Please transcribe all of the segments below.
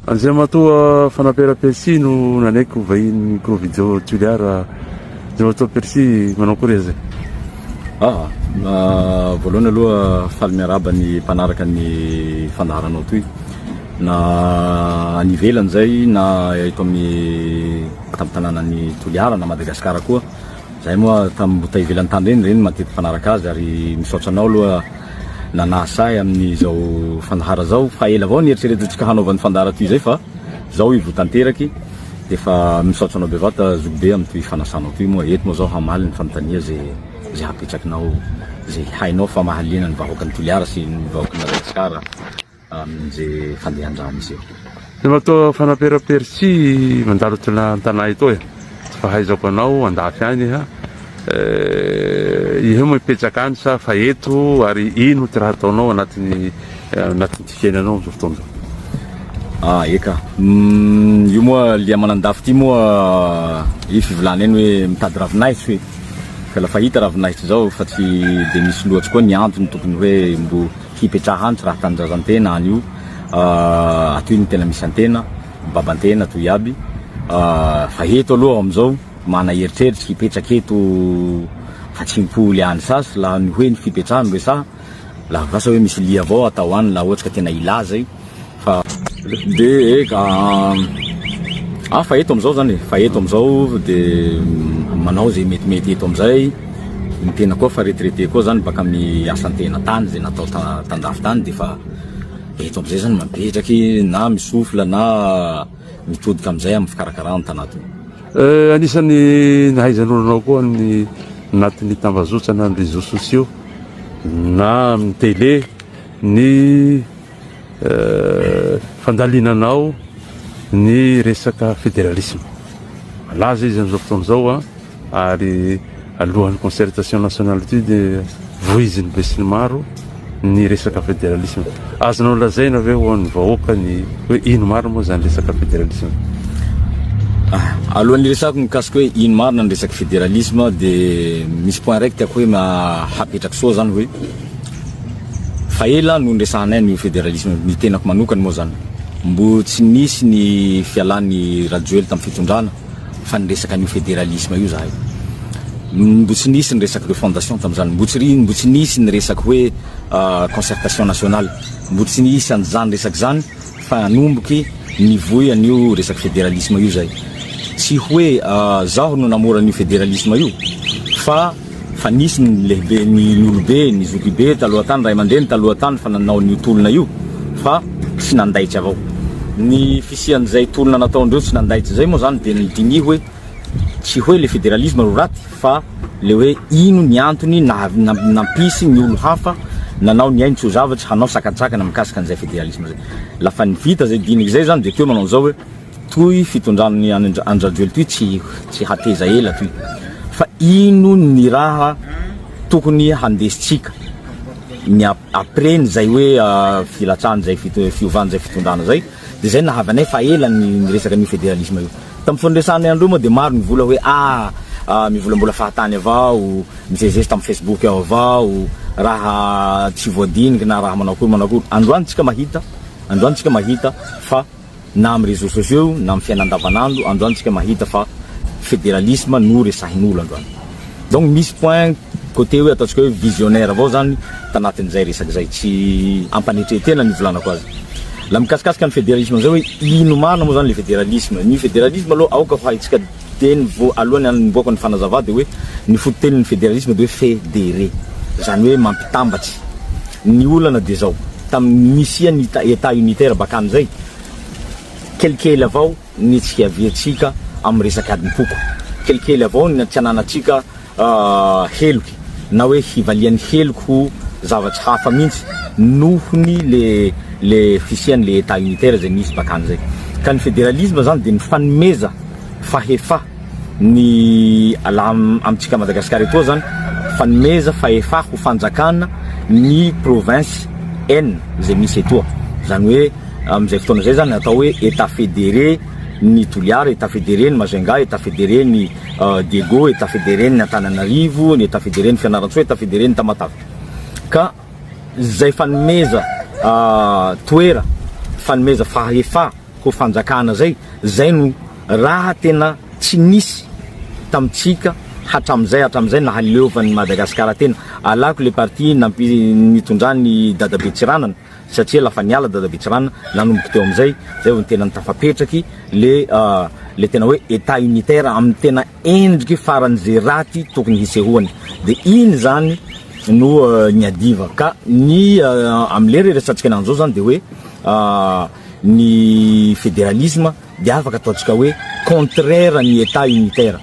Andriamatoa Fanapera Percy no nanaiky ho vahinin'ny Provijo Tuliar Andriamatoa Percy manao akory aza? Aa, voalohany aloha faly miarahaba ny mpanaraka ny fandaharanao toy na any ivelany zay na eto amin'ny tampon-tanànan'i Toliara na Madagasikara koa. Zahay moa tam mbo tay ivelany tany reny reny matetiky mpanaraka azy ary misaotra anao aloha nanahy sahy aminy zao fandahara zao fa ela avao nieritreretantsika hanaovany fandahara toy izay fa zao ivo tanteraky defa misaotra anao bevata zoky be am toy fanasanao toy moa eto moa zao hamaly ny fanontania ze ze hapetrakinao ze hainao fa mahaliana ny vahoaka ny toliara sy ny vahoaka ny madagasikara amin'izay fandehan-drano izay. Ianao to fanapera persi mandalo tena an-tanà eto e. Tsy fahaizako anao andafy any ha. Eh, ihe moa mipetraka any sa fa eto ary ino ty raha ataonao anatin'ny eh, anatin'ny fiainanao amin'izao fotoana izao? Ah, eka. Mm, io moa lia manandafy ty moa eh, i fivolana eny hoe mitady ravinahitra hoe. Ka lafa hita ravinahitra izao fa tsy dia misy loatsy koa ny antony tokony hoe mbo hipetraha any tsy raha tanindrazantena any io atoy no tena misy antena mibabantena toy aby fa eto aloha amizao mana eritreritra hipetraka eto fa tsy mpoly any sasy la ny hoe ny fipetraha no resaha la vasa hoe misy lia avao atao any la ohatry ka tena ilaza io Fa de eka ah fa eto amizao zany fa eto amizao de manao ze metimety eto amizay ny tena koa fa retraité koa zany baka amy asantena tany ze natao tandafy tany de fa eto amizay zany mapetraky na misofla na mitodika amizay amy fikarakarana tana to. Eh, anisan'ny nahaizanolonao koa ny anatin'ny tambazotra na ny réseaux sociaux na amin'ny télé ny fandalinanao ny resaka federalisme. Malaza izy amin'izao fotoana izao a, ah. ary alohan'ny concertation nationale ity dia voizin'ny be sy ny maro ny resaka federalisme. Azonao lazaina ve ho an'ny vahoaka ny hoe ino marina moa izany resaka federalisme? Ah, alohan'ny resako mikasika hoe ino marina ny resaka federalisme dia misy point raiky tiako hoe hapetraka soa zany hoe Fa ela no niresahanay an'io federalisme io, ny tenako manokana moa zany mbo tsy nisy ny fialan'i Rajoely tamin'ny fitondrana fa niresaka an'io federalisme io zahay, mbo tsy nisy ny resaka refondation tamin'izany, mbo tsy mbo tsy nisy ny resaka hoe concertation nationale, mbo tsy nisy an'izany resaka izany fa nanomboky nivoy an'io resaka federalisme io zay, tsy hoe zaho no namora an'io federalisme io fa fa nisy ny lehibe ny olobe ny zokibe taloha tany ray aman-dreny taloha tany fa nanao an'io tolona io fa tsy nandaitra avao ny fisian'izay tolona nataondreo tsy nandaitra izay moa zany dia diniho hoe tsy hoe le federalisme ro raty fa le hoe ino ny antony nampisy ny olo hafa nanao ny ainy tsy ho zavatry hanao sakantsakana mikasika an'izay federalisme zay lafa ny vita zay dinika izay zany dia teo manao izao hoe Toy fitondran'ny any an-dRajoelina toy tsy tsy hateza ela toy fa ino ny raha tokony handesintsika ny après ny zay hoe filatsahany zay fiovany zay fitondrana zay de zay nahavy anay fa ela ny resaka an'io federalisme io tamin'ny foniresanay andreo moa de maro ny vola hoe ah mivolambola fahatany avao mizezizezy tamin'ny facebook ao avao raha tsy voadiniky na raha manao akory manao akory androany tsika mahita androany tsika mahita fa na amin'ny réseaux sociaux na amin'ny fiainana andavan'andro androany tsika mahita fa fédéralisme no resahin'olo androany donc misy point côté hoe ataontsika hoe visionnaire avao zany tanatin'izay resaka izay tsy ampanetren-tena ny hivolanako azy la mikasikasika ny fédéralisme amin'izay hoe ino marina moa zany le fédéralisme ny fédéralisme aloha aoka ho haintsika dia ny vo alohan'ny hanombohako ny fanazavà dia hoe ny fototenin'ny federalisma dia hoe federe izany hoe mampitambatry ny olana dia izao tamin'ny nisian'ny etat unitaire bakany izay kelikely avao ny tsy fiaviantsika amin'ny resaka adim-poko kelikely avao ny tsy ananantsika heloky na hoe hivalian'ny heloky ho zavatsy hafa mihitsy nohony le le fisiany le etat unitaire zay misy bakany zay ka ny federalisme zany de mifanomeza fahefa ny ala amintsika Madagascar etoa zany fanomeza fahefa ho fanjakana ny province en zay misy etoa zany hoe amin'izay fotoana zay zany atao hoe etat federe ny Toliara etat federe ny Majunga etat federe ny Diego, Etat Fédéré n'ny Antananarivo, ny Etat Fédéré n'ny Fianarantsoa, Etat Fédéré n'ny Tamatave. Ka izay fanomeza toera, fanomeza fahefa ho fanjakana izay, izay no raha tena tsy nisy tamintsika hatramin'izay hatramin'izay nahaleovan'i Madagasikara tena. Alako le partie nampi- nitondran'i Dadabe Tsiranana satria ela fa niala dada Betsirano, nanomboka teo amin'izay, zay vao tena tafapetraky le le tena hoe état unitaire amin'ny tena endriky farany ze raty tokony hisehoany, de iny zany no niadiva ka ny amle resatsika ananjy zao zany de hoe ny federalisme de afaka ataontsika hoe contraire ny état unitaire,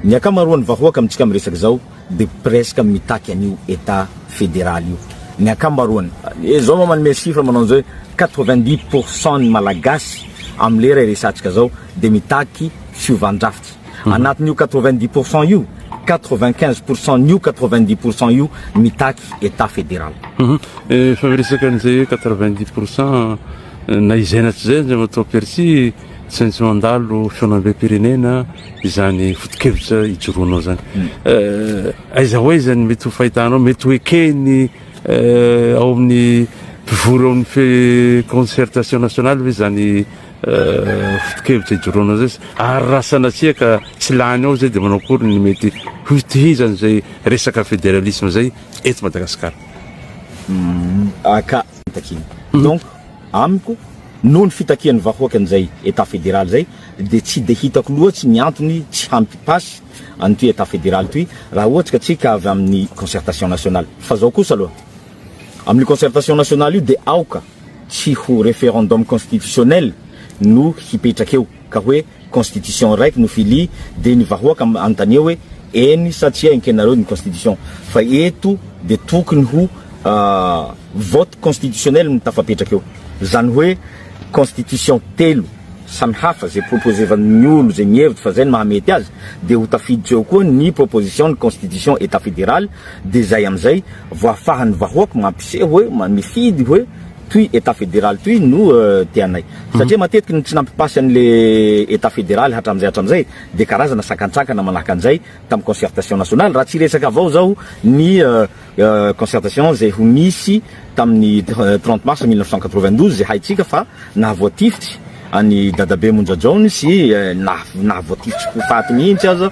ny akamaroan'ny vahoaka amintsika miresaka zao. de presque mitaky an'io Etat federal io ny ankamaroany. Dia zao ma manome chiffre manao an'izao hoe quatre-vingt-dix pour cent ny Malagasy amin'ny lera iresatsika zao dia mitaky fiovan-drafitra. Anatin'io quatre-vingt-dix pour cent io, quatre-vingt-quinze pour cent n'io quatre-vingt-dix pour cent io mitaky Etat federal. Efa miresaka an'izay hoe quatre-vingt-dix pour cent na izay na tsy izay aza matoa perçu. Tsy maintsy mandalo fihaonambem-pirenena izany fotokevitra ijoroanao izany. Eh, aiza ho aiza ny mety ho fahitanao, mety ho ekeny eh, ao amin'ny mpivory ao amin'ny concertation nationale ve izany eh, fotokevitra ijoroanao izay? Ary raha sanatria ka tsy lany ao izay dia manao akory ny mety hotohizany izay resaka federalisme izay eto Madagasikara? Hmm, aka, takina. Hmm. Donc, Amiko, noho ny fitakian'ny vahoaka an'izay Etat federaly izay, dia tsy dia hitako loatsy ny antony tsy hampy pas an'ity Etat federaly ity raha ohatra ka tsy ka avy amin'ny concertation nationale. Fa zao kosa aloha, amin'io concertation nationale io dia aoka tsy ho referendum constitutionnel no hipetraka eo. ka hoe constitution raiky no fili de ny vahoaka anontania hoe eny sa tsia enkenareo ny constitution fa eto de tokony ho vote constitutionnel no tafapetraka eo zany hoe constitution telo samy hafa ze proposevan'ny olo ze mihevitra fa zay no mahamety azy de ho tafiditra eo koa ny proposition ny constitution etat federal de zay amizay vao afahan'ny vahoaka mampiseho hoe mifidy hoe Toy Etat Federal toy no tianay. Satria matetiky ny tsy nampipasy an'le Etat Federal hatram'izay hatram'izay dia karazana sakantsakana manahaka an'izay tamin'ny concertation nationale raha tsy hiresaka avao zao ny concertation izay ho nisy tamin'ny trente mars mille neuf cent quatre-vingt-douze izay haintsika fa nahavoatifitsy an'i Dadabe Monjajaony sy nahavoatifitsy ho faty mihitsy aza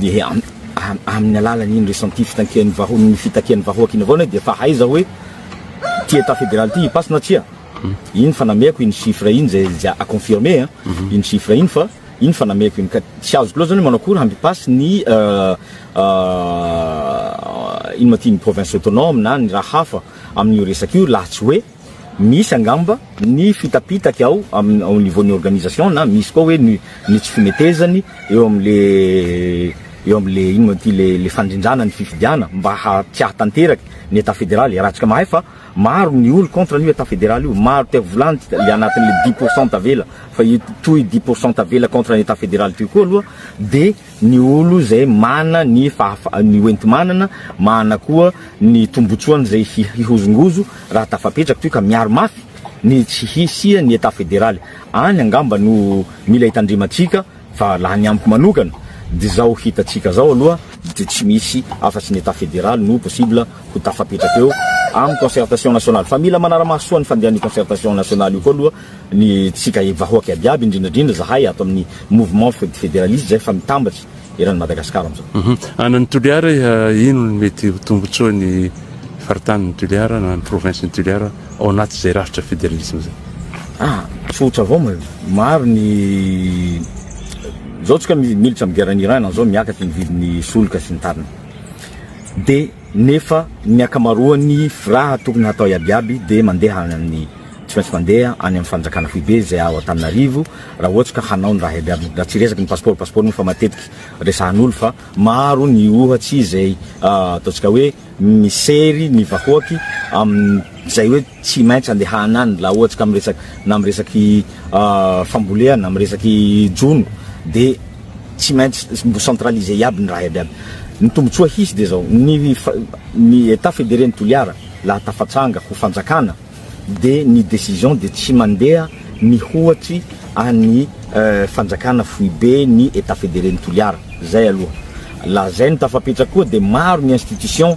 dia amin'ny alalan'iny ressenti fitakian'ny vahoaka ny fitakian'ny vahoaka iny avao anao dia efa haiza hoe ity état fédéral ity hipaso na tsia iny fa namehako iny chiffre iny zay zay à confirmer a mhm. iny chiffre iny fa iny fa namehako iny ka tsy azoko loatra zany manao akory hampipasse ny euh, euh, ino ma ty ny province autonome na ny raha hafa amin'io resaka io laha tsy hoe Misy angamba ny fitapitaky ao amin'ny au niveau ny organisation na misy koa hoe ny ny tsy fimetezany eo amin'le eo amin'le ino moa ty le le fandrindrana ny fifidiana mba ha tsy hahatanteraky ny etat federaly raha tsika mahay fa maro ny olo contre an'io etat federaly io maro te volany ty le anatin'le dix pourcent tavela fa io toy dix pourcent tavela contre ny etat federaly toy koa aloha de ny olo zay mana ny fahafa ny hoenti-manana, mana koa ny tombotsoany zay hi hihozongozo raha tafapetraka toy ka miaro mafy ny tsy hisia ny Etat federaly. Any angamba no mila itandremantsika fa laha ny amiko manokana dy zao hitantsika zao aloha dy tsy misy afa tsy ny Etat federaly no possible ho tafapetraka eo am concertation nationale. Fa mila manara-maso soa ny fandehan'io concertation nationale io koa aloha ny tsika vahoaka iaby iaby indrindra indrindra zahay ato amin'ny mouvement federaliste zay fa mitambatra eran'ny Madagascar amizao. Hum Ana ny Toliara ino ny mety ho tombotsoa ny faritany ny Toliara na ny province ny Toliara ao anaty zay rafitra federalisme zay? Ah tsotra avao ma maro ny zao tsika militra am guerre en Iran zao miakatra ny vidiny soloka sy ny tariny de nefa ny ankamaroan'ny firaha tokony hatao iabiaby dia mandeha any amin'ny tsy maintsy mandeha any amin'ny fanjakana foibe izay ao Antananarivo raha ohatra ka hanao ny raha iabiaby raha tsy resaky ny pasipaoro pasipaoro moa fa matetiky resahan'olo fa maro ny ohatsy izay ataontsika hoe misery ny vahoaky amin'izay hoe tsy maintsy andehana any laha ohatra ka miresaka na miresaky fambolehana, miresaky jono de tsy maintsy mbo centraliser iaby ny raha iaby iaby. Ny tombotsoa hisy de zao, ny ny etat federe ny Toliara laha tafatranga ho fanjakana de ny decision de tsy mandeha mihoatry an'ny fanjakana foibe ny etat federe ny Toliara, zay aloha. Laha zay no tafapetraka koa de maro ny institution,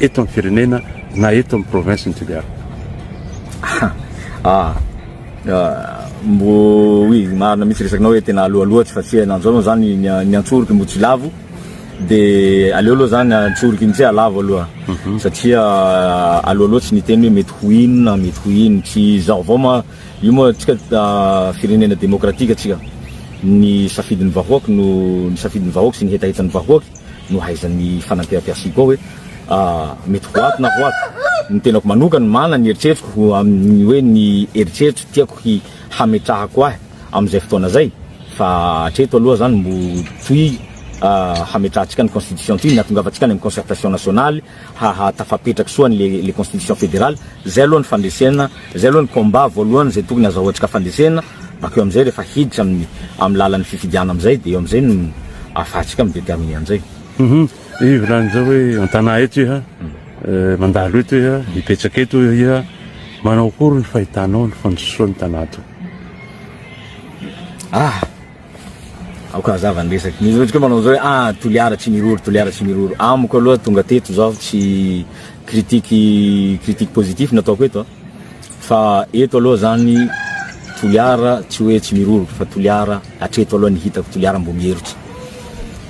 eto amin'ny firenena na eto amin'ny province ny Toliara? Ah, mbo oui marina mihitsy resakinao hoe tena aloaloha tsy fatsiahina an'izao moa zany ny ny antsoroky mbo tsy lavo de aleo aloha zany antsoroky ny tsy alavo aloha mhm. satria aloaloha tsy niteny hoe mety ho inona mety ho ino tsy zao vao ma io moa tsika ah, firenena demokratika tsika ny safidin'ny vahoaka no ny safidin'ny vahoaka sy ny hetahetan'ny vahoaka nohaizan'ny fanampiampiasy Hugo hoe mety ho ato na ho ato. Ny tenako manokana no manana ny eritreriko ho amin'ny hoe ny eritreritra tiako hi hametrahako ahy amin'izay fotoana izay. Fa hatreto aloha izany mbo toy hametrahantsika ny constitution ity ny hahatongavantsika any amin'ny concertation nationale. haha tafapetraky soa ny le constitution federale, zay aloha ny fandresena, zay aloha ny combat voalohany zay tokony azahoantsika fandresena, bakeo amizay rehefa hiditra aminy aminy lalan'ny fifidiana amizay de eo amizay no afahatsika mi determiner anizay. Humm iha volany zao hoe antanà eto iha mandalo eto iha hipetraka eto iha manao akory ny fahitanao ny fandrosoan'ny tanà toa? Ah! Aoka hazava ny resaky. Misy ohatry manao zao hoe ah Toliara tsy miroro, Toliara tsy miroro. Amiko aloha tonga teto zao tsy critique critique positif nataoko eto fa eto aloha zany Toliara tsy hoe tsy miroro fa Toliara hatreto aloha ny hitako Toliara mbo mierotsy.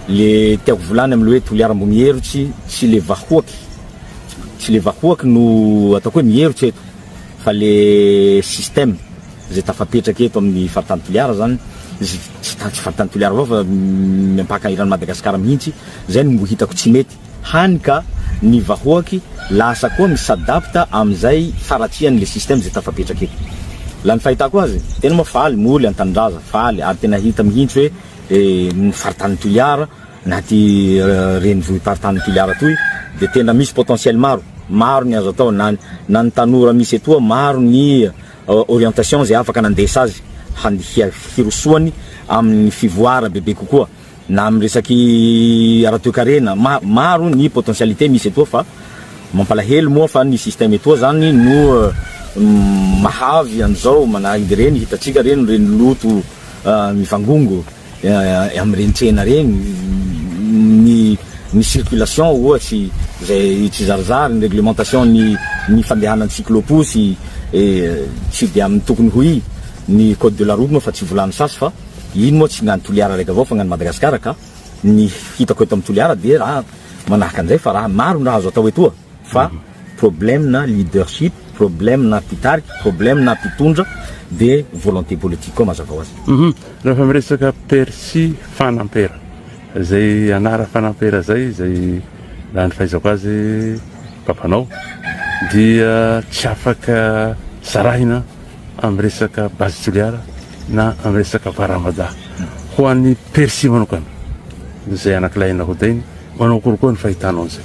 Le tiako volany amle hoe Toliara mbo mierotsy tsy le vahoaky tsy le vahoaky no ataoko hoe mierotsy eto fa le système izay tafapetraka eto amin'ny faritany Toliara izany, tsy tsy faritany Toliara avao fa miampaka eran'i Madagasikara mihitsy, izay no mbo hitako tsy mety, hany ka ny vahoaky lasa koa mi s'adapte amin'izay faratsiany le système izay tafapetraka eto. La ny fahitako azy, tena moa faly moly an-tanindraza, faly ary tena hita mihitsy hoe ny faritany Toliara na aty renivohi-paritany Toliara atoy dia tena misy potentiel maro, maro ny azo atao na na ny tanora misy etoa maro ny orientation izay afaka nandesa azy hany hirosoany amin'ny fivoara bebe kokoa na amin'ny resaky ara-toekarena maro ny potentialité misy etoa fa mampalahelo moa fa ny système etoa zany no mahavy an'izao manahireny hitantsika ireny ireny loto mivangongo amin'ireny tsena ireny, ny ny circulation ohatry izay tsy zarizary, ny réglementation ny ny fandehanan'ny cyclo-posy tsy dia amin'ny tokony ho izy, ny code de la route moa efa tsy volano sasy fa iny moa tsy ny an'i Toliara araiky avao fa ny an'i Madagasikara ka ny hitako eto amin'i Toliara dia raha manahaka an'izay fa raha maro ny raha azo atao etoa fa Problème na leadership, problème na mpitarika, problème na mpitondra dia volonté politique koa mazava ho azy. Hum rehefa miresaka percy fanampera zay anara fanampera zay zay raha ny fahaizako azy papanao dia tsy afaka sarahina amin'ny resaka base toliara na amin'ny resaka varamada ho an'ny percy manokana zay anakilay nahodainy manao akory koa ny fahitanao an'izay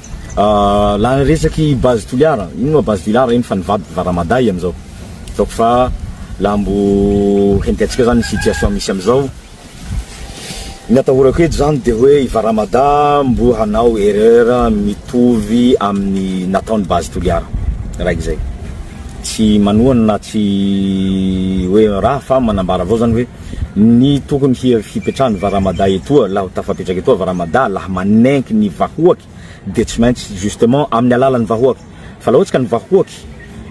la resaky base Toliara, ino ma base Toliara iny fa ny vadiko Varamaday amizao, ataoko fa la mbo hententsika zany ny situation misy amizao, ny atahorako eto zany de hoe i Varamada mbo hanao erreur mitovy aminy nataony base Toliara raiky zay, tsy manohana na tsy hoe raha fa manambara avao zany hoe. Ny tokony hipetrahan'ny varamada etoa laha tafapetraka etoa varamada laha manenky ny vahoaky dia tsy maintsy justement amin'ny alalan'ny vahoaky fa laha ohatsy ka ny vahoaky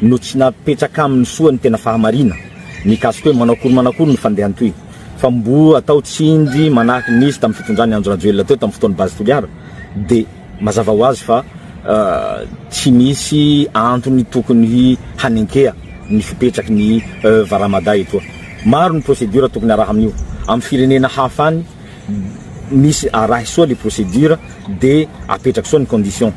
no tsy napetraka aminy soa ny tena fahamarina mikasika hoe manao akory manao akory ny fandehany toy fa mbo atao tsindry manahaka ny nisy tamin'ny fitondrany andry rajoelina teo tamin'ny fotoan'ny base toliara dia Mazava ho azy fa tsy misy antony tokony hanenkeha ny fipetraky ny Varamada etoa. Maro ny procédure tokony araha amin'io. Amin'ny firenena hafa any misy arahy soa le procédure de apetraky soa ny condition.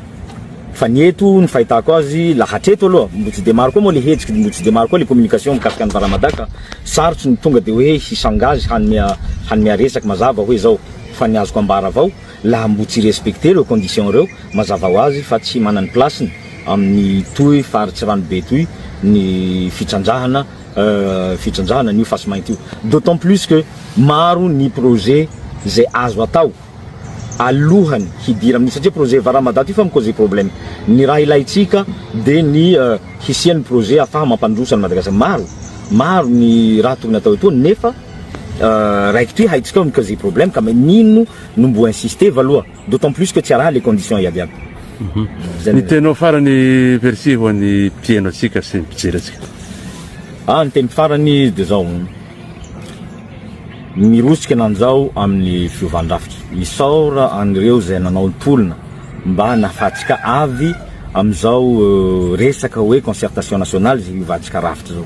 Fa ny eto ny fahitako azy la hatreto aloha mbo tsy de maro koa moa le hetsiky mbo tsy de maro koa le communication mikasika ny Varamada ka sarotsy ny tonga de hoe hisangazy hanome hanome resaky mazava hoe zao. Fa ny azoko ambara avao. laha mbo tsy respecter reo conditions reo mazava ho azy fa tsy manany place-ny amin'ny toy faritsy ranobe toy ny fitrandrahana fitrandrahana an'io fasimainty io d'autant plus que maro ny projet zay azo atao alohany hidira amin'io satria projet varamadaty io fa mi-causer problème ny raha ilaintsika de ny hisian'ny projet afaha mampandroso an'i Madagascar maro maro ny raha tokony atao etoa nefa raikitra io haintsika ao mi-causer problème ka maninona no mbo insister va loha d'autant plus que tsy araha le condition iaby iaby. Zay Ny teninao farany merci ho an'ny mpieno antsika sy ny mpijery antsika. Ah ny teniko farany de zao, mirosika nanjao amin'ny fiovan-drafitra, misaora an'ireo zay nanao ny tolona mba nahafahantsika avy amin'izao resaka hoe concertation nationale zay hiovantsika rafitra zao.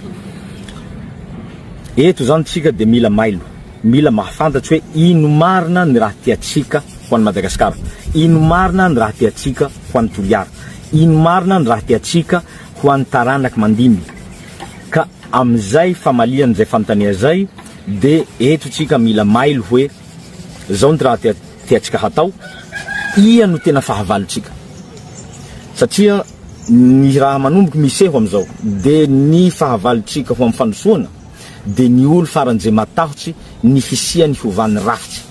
Eto zany tsika de mila mailo. Mila mahafantatra hoe ino marina ny raha tiantsika ho an'i Madagasikara, ino marina ny raha tiantsika ho an'i Toliara, ino marina ny raha tiantsika ho an'ny taranak'i Mandimby. Ka amin'izay famalian' izay fanontaniana izay dia eto isika mila mailo hoe izao ny raha tiantsika hatao, ia no tena fahavalontsika. Satria ny raha manomboky miseho amin'izao dia ny fahavalontsika ho amin'ny fandrosoana, dia ny olo faran'izay matahotsy ny hisiany hovany rafitsy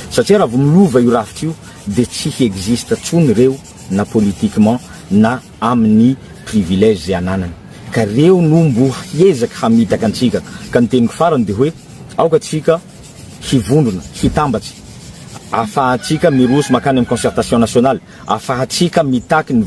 satria raha vo milova io rafitra io dia tsy hi existe tsony reo na politiquement na aminy privilège zay ananany ka reo no mbo hiezaka hamitaka antsika ka ny teniko farany dia hoe aoka tsika hivondrona hitambatsy afahantsika miroso makany am concertation nationale afahantsika mitaky ny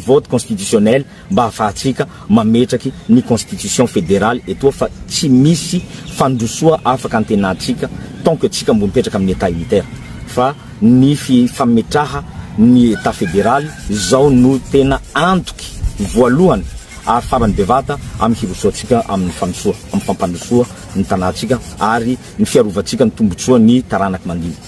vote constitutionnel mba ahafahantsika mametraky ny constitution federale etoa fa tsy misy fandrosoa afaka antenatsika tant que tsika mbo mipetraka amin'ny etat unitaire fa ny fametraha ny etat federaly zao no tena antoky voalohany ary farany bevata amin'ny hirosoantsika amin'ny fandrosoa amin'ny fampandrosoa ny tanàtsika ary ny fiarovantsika ny tombotsoa ny taranaky mandinika.